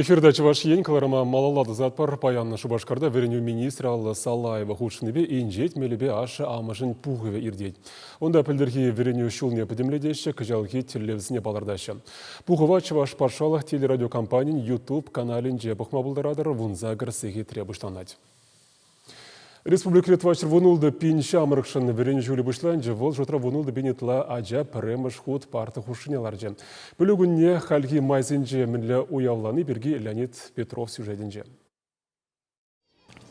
Эфирта Чӑваш Ен кӑларӑма малалла тӑсатпӑр. Паян Шупашкарта вӗренӳ министрӗ Алла Салаева хутшӑннипе инҫет мелӗпе ашшӗ-амӑшӗн пухӑвӗ иртет. Унта пӗлтӗрхи вӗренӳ ҫулне пӗтӗмлетеҫҫӗ, кӑҫалхи тӗллевсене палӑртаҫҫӗ. Пухӑва Чӑваш патшалӑх телерадиокомпанин YouTube каналӗнче пӑхма пултаратӑр, вунсакӑр сехетре пуҫланать. Республикӑри тӑватҫӗр вун ултӑ пин ҫамрӑкшӑн вӗренӳ ҫулӗ пуҫланчӗ. Вӑл шутра вун ултӑ пин ытла ача пӗрремӗш хут парта хушшине ларчӗ. Пӗлӳ кунне хальхи майсенче мӗнле уявлани пирки Леонид Петров сюжетӗнче.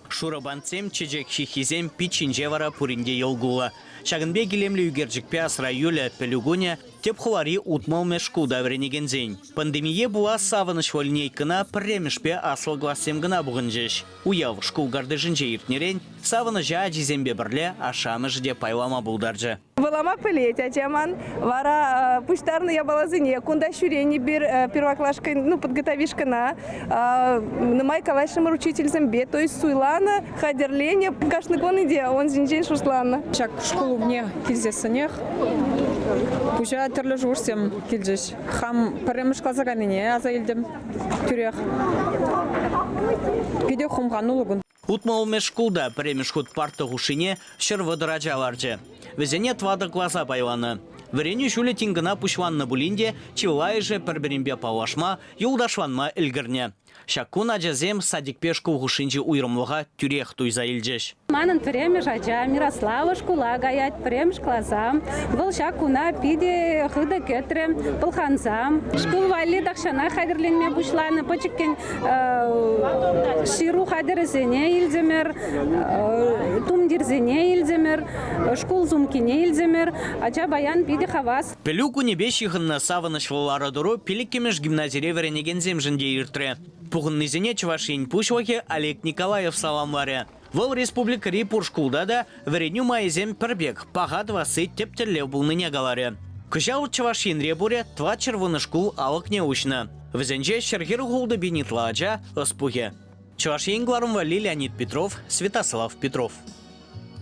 Шурӑ бантсем, чечек ҫыххисем, пит ҫинче вара пурин те йӑл-кулӑ. Ҫакӑн пек илемлӗ ӳкерчӗкпе асра юлӗ пӗлӳ кунӗ тӗп хулари утмӑлмӗш шкулта вӗренекенсен. Пандемие пула савӑнӑҫ линейкӑна пӗрремӗшпе аслӑ классем кӑна пухӑнчӗҫ. Уяв шкул картишӗнче иртнӗрен савӑнӑҫа ачисемпе пӗрле ашшӗ-амӑшӗ те пайлама пултарчӗ. Вулама пӗлет ача ман. Вара пуҫтарнӑ япаласене кунта ҫӳрен эпир первоклашкӑн, ну, подготовишкӑна нумай калаҫрӑмӑр учительсемпе, то есть суйланӑ, хатӗрленӗ. Кашни кун те ун ҫинчен шусланӑ. Ҫак шкул умне килсессӗнех пуҫа тӗрлӗ шухӑшсем килчӗҫ. Хам пӗрремӗш класа кайнине аса илтӗм. тӳрех. Питӗ хумхануллӑ кун. Утмӑл мӗш шкулта пӗрремӗш хут парта хушшине ҫӗр вӑтӑр ача ларчӗ. Вӗсене тӑватӑ класа пайланӑ. Вӗренӳ ҫулӗ тин кӑна пуҫланнӑ пулин те чылайӑшӗ пӗр-пӗринпе паллашма, юлташланма ӗлкӗрнӗ. Ҫак кун ачасем садикпе шкул хушшинчи уйрӑмлӑха тӳрех туйса илчӗҫ. Манӑн пӗрремӗш ача Мирослава шкула каять, пӗрремӗш класа. Вӑл ҫак куна питӗ хытӑ кӗтрӗ, пӑлханса. Шкул валли тахҫана хатӗрленме пуҫланӑ пӗчӗккӗн ҫыру хатӗрӗсене илтӗмӗр, тумтирсене илтӗмӗр, шкул сумкине илтӗмӗр. Ача паян питӗ хавас. Пӗлӳ кунӗпе ҫыхӑннӑ савӑнӑҫлӑ лару-тӑру пилӗккӗмӗш гимназире вӗренекенсемшӗн те иртрӗ. Пухӑннисене Чӑваш Ен Пуҫлӑхӗ Олег Николаев саламларӗ. Вӑл республикӑри пур шкулта та вӗренӳ майӗсем пӗр пек, паха тӑвасси тӗп тӗллев пулнине каларӗ. Кӑҫал Чӑваш Енре пурӗ тӑват ҫӗрвунӑ шкул алӑкне уҫнӑ. Вӗсенче ҫӗр хӗрӳ хултӑпин ытла ача ӑс пухӗ. Чӑваш Ен кӑларӑмлӑ Леонид Петров, Святослав Петров.